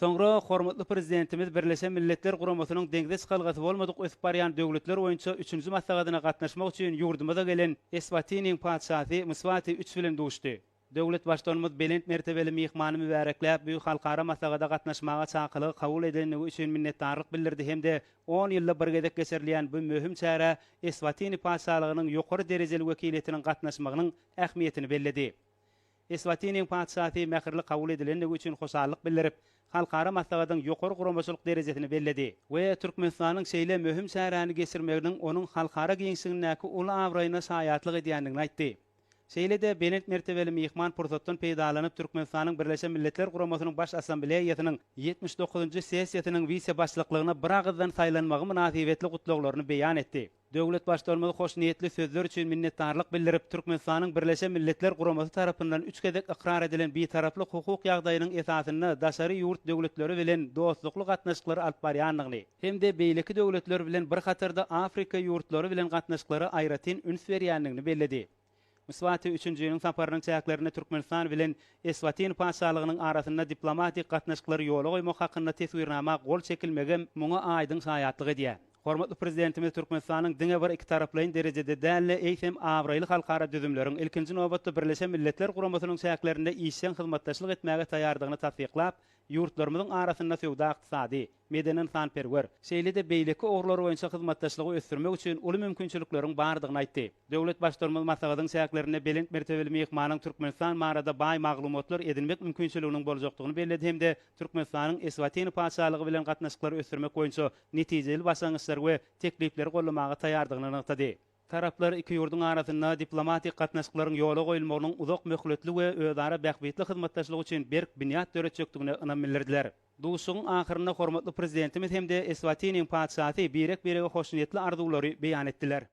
Soňra hormatly Prezidentimiz Birleşen Milletler Guramasynyň Deňze çykalgasy bolmadyk ösüp barýan döwletler boýunça üçünji maslahatyna gatnaşmak üçin ýurdumyza gelen Eswatiniň Patyşasy Mswati I bilen duşdy. Döwlet Baştutanymyz belent mertebeli myhmany mübärekläp, bu halkara maslahata gatnaşmaga çakylygy kabul edendigi üçin minnetdarlyk bildirdi hem-de on ýylda bir gezek geçirilýän bu möhüm çärä Eswatini Patyşalygynyň ýokary derejeli wekiliýetiniň gatnaşmagynyň ähmiýetini belledi. Eswatiniň Patyşasy mähirli kabul edilendigi üçin hoşallyk bildirip, halkara maslahatyň ýokary guramaçylyk derejesini belledi we Türkmenistanyň şeýle möhüm çäräni geçirmeginiň onuň halkara giňişligindäki uly abraýyna şaýatlyk edýändigini aýtdy. Şeýle-de belent mertebeli myhman pursatdan peýdalanyp Türkmenistanyň Birleşen Milletler Guramasynyň Baş Assambleýasynyň ýetmiş dokuzynjy sessiýasynyň wise-başlyklygyna biragyzdan saýlanmagy mynasybetli gutlaglaryny beýan etdi. Döwlet Baştutanymyz hoşniýetli sözler üçin minnetdarlyk bildirip, Türkmenistanyň Birleşen Milletler Guramasy tarapyndan üç gezek ykrar edilen Bitaraplyk hukuk ýagdaýynyň esasynda daşary ýurt döwletleri bilen dostlukly gatnaşyklary alyp barýandygyny hem-de beýleki döwletler bilen bir hatarda Afrika ýurtlary bilen gatnaşyklara aýratyn üns berýändigini belledi. Mswati üçünjiniň saparynyň çäklerinde Türkmenistan bilen Eswatini Patyşalygynyň arasynda diplomatik gatnaşyklary ýola goýmak hakynda teswirnama gol çekilmegem muňa aýdyň şaýatlyk edýär. Hormatly Prezidentimiz Türkmenistanyň diňe bir ikitaraplaýyn derejede däl-de, eýsem, abraýly halkara düzümleriň, ilkinji nobatda, Birleşen Milletler Guramasynyň çäklerinde işjeň hyzmatdaşlyk etmäge taýýardygyny tassyklap, Ýurtlarymyzyň arasynda söwda-ykdysady, medeni-ynsanperwer, şeýle-de beýleki ugurlar boýunça hyzmatdaşlygy ösdürmek üçin uly mümkinçilikleriň bardygyny aýtdy. Döwlet Baştutanymyz maslahatyň çäklerinde belent mertebeli myhmanyň Türkmenistan barada baý maglumatlar edinmek mümkinçiliginiň boljakdygyny belledi hem-de Türkmenistanyň Eswatini Patyşalygy bilen gatnaşyklary ösdürmek boýunça netijeli başlangyçlary we teklipleri gollamaga taýardygyny nygtady. Taraplar iki ýurduň arasynda diplomatik gatnaşyklaryň ýola goýulmagynyň uzak möhletli we özara bähbitli hyzmatdaşlyk üçin berk binýat döretjekdigine ynam bildirdiler. Duşuşygyň ahyrynda hormatly Prezidentimiz hem-de Eswatiniň Patyşasy birek-birege hoşniýetli arzuwlary beýan etdiler.